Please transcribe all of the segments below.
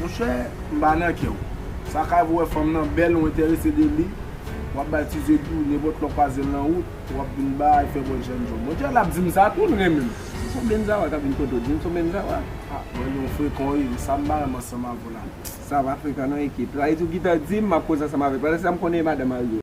Monchè m pa nan kè w. Sa ka vwe fanm nan bèl ou entèrese de li, wap bay ti zye di w nenpòt lè w kwaze l nan wout, wap vin bay fè bòt jèn jan w. Monchè lap di m sa tou l renmen m. Se son benzawa kap vin kote w di m son benzawa? Ah mwen gen yon frekan wi, e sa m pa renmen ansanm avè w la. Sa va frekan nan ekip. Sa vle di w gentan di m map koze ansanm avè l. Pandan se sa m konnen e madanm Ario.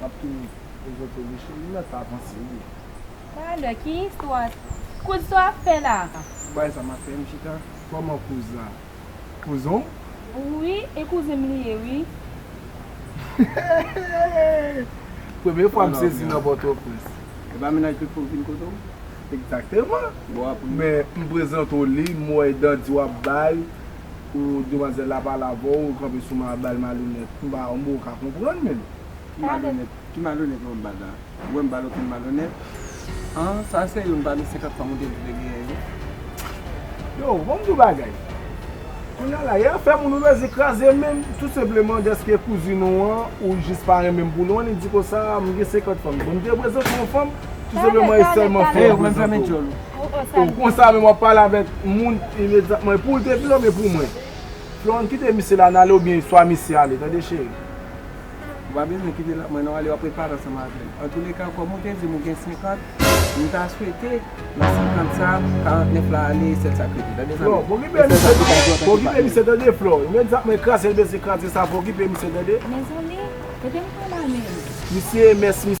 Map toujou prezante wi cheri lè sa avanse wi. Talè ki istwa kouz sa ap fè la. Pou bagay sa map fè m chita. Koman kouz la kouzin w. Wi e kouzin m li ye wi. Premye fwa m sezi nan pòtoprens. Epa mennaj tout fòk vin kote w. Ekzakteman men m prezante w li m wè dan di wap bay. Ooh demwazel la pale avè w ou kanpe sou ma bal malonèt m pa m poko ka konprann menm ki malonèt. Ki malonèt wè m bal la? Ou wè m bal okenn malonèt? An sa serye m bale 50 fanm ou te di te genyen yo? Yo bon m di w bagay kounya la e afè moun ou bezwen kraze men tou senpleman dèske kouzin ou an ou jis pa renmen m pou lwen li di konsa m gen 50 fanm bon m te prezante w yon fanm tou senpleman e sèlman fanm ou prezante w. Ou konsa menm wap pale avèk moun imedyatman e poul te plome pou mwen Florent kite misye la nale ou byen swa misye ale tande cheri. Ou pa bezwen kite l ak mwen non ale wap repare ansanm avè l antoulèka kòm ou te di m ou gen 50 m ta swete nan 50 sa 49 la ale e sèl sa k rete tande zanmi m Flore pokipe misye non pokipe misye tande Flore imedyatman e kraze l bese kraze sa pokipe misye tande. Mezanmi e te m pran mal menm. Misye e mès misye.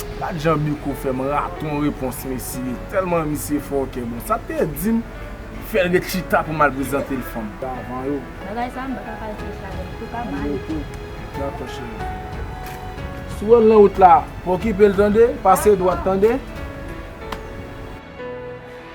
Gad jan Miko fè m raton repons mesye, tèlman misye fòkè bon sa te di m fè l ret chita pou m al prezante l fanm davan yo. Bagay sa m pa ka pa reflechi avè l, se pa mal. Miko, dakò cheri. Si w wè l nan wout la, pa okipe l tande, pase dwat tande.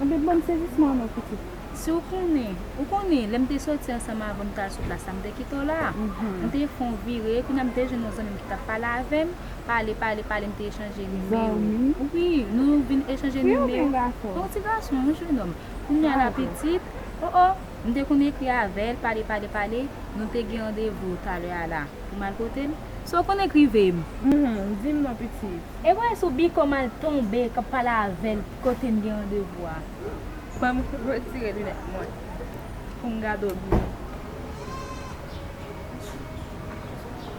Anben banm sezisman an non pitit. Si w konnen, ou konnen, lè m te soti ansanm avan m t al sou plas la m te kite w la a. M te fè yon vire, kounye a m te jwenn yon zanmi m ki t ap pale avè m. Pale, pale, pale m te echanje nimewo. Zanmi? Wi, nou vin echanje nimewo. Yon ti gason? Yon ti gason, yon jenòm. Kounye a la pitit, o o! M te konn ekri avè l, pale pale pale, nou te gen randevou talè a la. Pou m al kote l? Si w konn ekri ve m. Hum-hum, di m non pitit. E kounya sou bikò m al tonbe k ap pale avè l kote n gen randevou a. Fò m retire linèt mwen pou m gade w byen.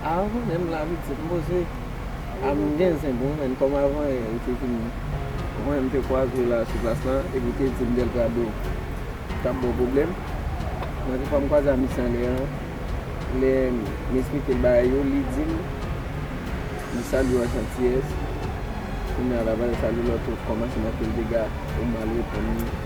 Aah ou menm la pitit m poze a m gen zen pou ou menn kòm avan yè ou te vin wè m te kwaze la sou plas la epi ou te di m Delgado t ap ba w pwoblèm mwen te fè m kwaze a misye anlè an lè m esplike l bagay yo li di m li salye w ak jantiyès kounye a l ap al salye lòt ou kòmanse nan fè l dega ou mal reponn li.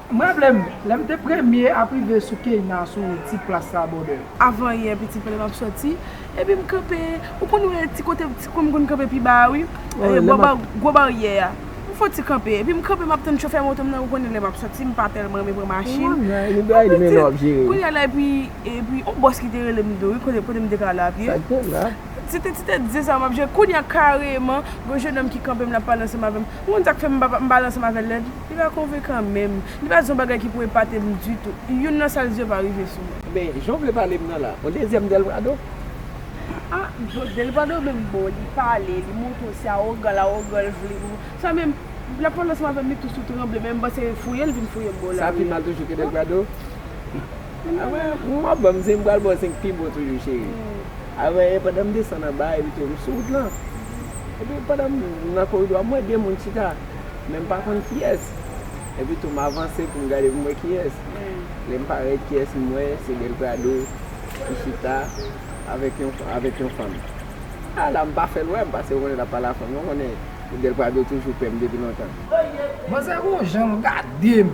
M raple m, lè m te premye ap rive sou Keyna sou wout ti plas la bòdè. Avanyè pitit frè m ap soti, epi m kanpe, ou konn wè ti kote ti kwen m konn kanpe pi ba a wi, bò gwo baryè a. M fon ti kanpe, epi m kanpe m ap tann chofè moto m nan, ou konnen lè m ap soti m pa tèlman renmen pran machin. An pitit, kounye a la epi, epi yon bòs ki te rele m tou wi, kote, kote m te ka ale a pye. Se te ti tèt dize sa m ap jwe. Kounye a kareman, gen yon jenòm ki kanpe m l ap pale ansanm avè m. Ou konn sa k fè m pa ale ansanm avè l nèt? Li pa konvenkan menm. Li pa di yon bagay ki pou epate m ditou. Youn nan sa l di yo pa rive sou mwen. Men, jan w vle pale m nan la, yon dezyèm Delprado? A, bon, Delprado menm bon, li pale, li montre w se awogan l, awogan l vle pou sa men, l ap pale ansanm avè m li tou sou tranble men m panse fouye l vin fouye m bò w la. Sa pi mal toujou ke Delprado? Aprè m wap banm zen m pral baw zen k pi bon toujou cheri Aprè e pandan m desann anba evite m sou wout lan Epi pandan m nan koridò a m wè 2 moun chita men m pa konn kiyès Epi tou m avanse pou m gade pou m wè kiyès Lè m parèt kiyès m wè se Delprado ki chita avèk yon avèk yon fanm A la m pa fè l wè m paske m konnen lap pale a fanm lan m konnen Delprado toujou pè m depi lontan. Manzè gon jan l gade m.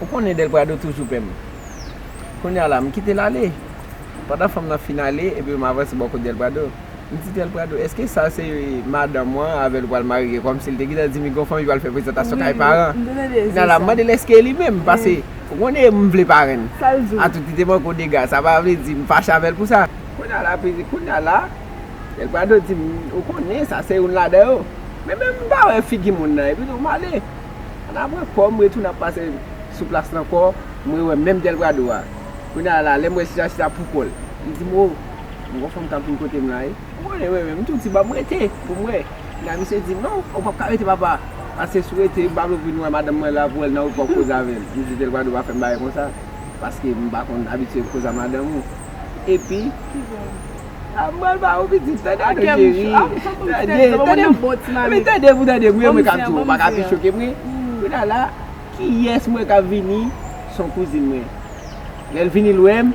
Ou konnen Del Prado toujou pè m. Kounya la, m kite l ale. Pandan fanm nan fin ale, epi m avanse bò kot Del Prado. Mitzidel Prado eske sa se madanm ou an avèl ou pral marye kòmsi li te gentan di migo fanmi pral fè prezantasyon kay paran nan lap mandel eske li menm pase ou konnen m vle parenn atout li te manke w dega sa pa vle di m fache avèl pou sa kounya la Del Prado di m ou konnen sa se youn ladan yo men menm m pa wè figi moun nan epi tou m ale an nan pran kòm m retounen ap pase sou plas la ankò m rewè menm Del Prado a kounya la lèm wè chita chita poukòl li di m o. Mwen gon fanm kap vin kotem la wi. Ou konnen mwen menm m tou di banm rete poum wè. Kounya misye dim non ou pap ka rete papa pase sou rete m pa vle ou vin wè madanm mwen la pou wèl nan ou pap koz avèl. M di tel pa dwe pa fèm bagay konsa paske m pa konn abitye koz a madanm ou epi ah m pral ba ou pitit tande non cheri tande tande epi tande pou tande mwen mwen kap di ou baka pi chokem wi kounya la kiyès m wè kap vini son kouzin mwen lèl vini l wèm.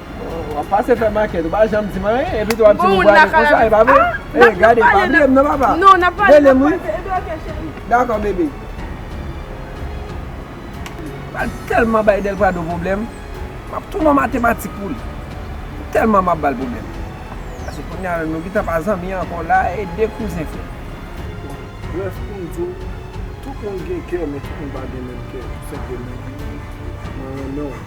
Wap pase fè makèt ou pa janm dim anyen epi tou wap dim ou prale konsa e pa vre e gade pa bliyem nan papa relem wi dakò bebe pral tèlman bay Delprado pwoblèm map tou nan matematik pou li tèlman map bal pwoblèm pase kounya menm nou gintan pa zanmi ankò la e de kouzen fè brèf poum diw tout moun gen kè men tout moun pa gen menm kè senpleman mwen renmenw.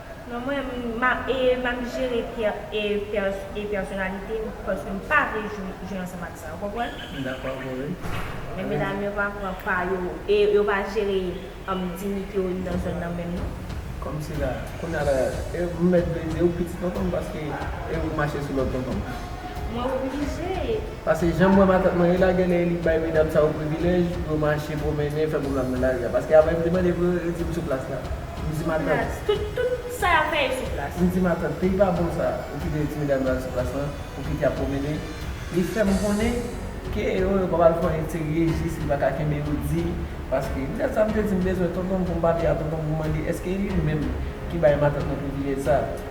Non mwen e map jere e pèsonalite m paske m pa vle jwe ansanm ak sa ou konprann? M dakò ak ou wi. Men medam yo pa pran pa yo e yo pa jere dignité yo ni nan zòn nan menm non. Kòmsi la a? Kounya la a m mèt vle diw pitit tonton m paske e ou mache sou lòd tonton m? Mwen oblije. Paske janm wè matant mwen e la genlè li bay medam sa yo privilèj pou yo mache pwomennen fè pwoblm nan lari a paske avè m te mande pou yo yo dim sou plas la. M di matant. Tout tout sa yap fè e sou plas. M di matant peyi pa bon sa ou kite ti medam yo al sou plas lan ou kite yap pwomennen li fèm konnen ke yo yo pa pral fè yon enterye jis li paka kenbe yo di paske m gad sa m te di m bezwen tonton m pou m pale a tonton m pou m mande eske li menm ki bay matant mwen privilèj sa.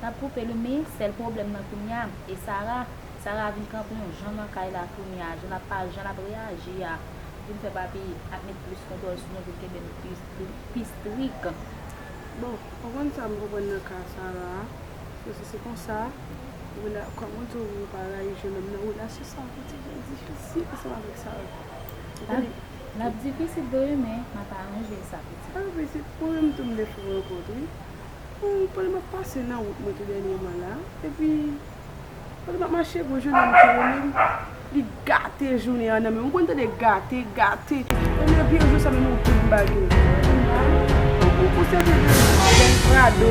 Tap koupe li min sèl pwoblèm nan kounya e sara sara vin kanpe yon jan nan kay la kounya jan lap pale jan lap reyaji a vin fè papi ap met plis kontwòl sou nou vin kenbe nou pi strik bon konprann sam konprann nan ka sara a se si se konsa rela kòman w di w pa rayi jenòm nan relasyon sa piti jan difisil ansanm avèk sara. Lap difisil vre men map aranje sa pitit. Ala pitit mwen menm tou m defo rankont wi Ooh pandan map pase nan wout mwen tou dènyeman la epi pandan map mache gwo jounen m tire menm li gate jounen an nan menm ou konn tande gate gate Ebyen vye jou sa menm ou tout bagay Ooh pou sèten tan avèk prado.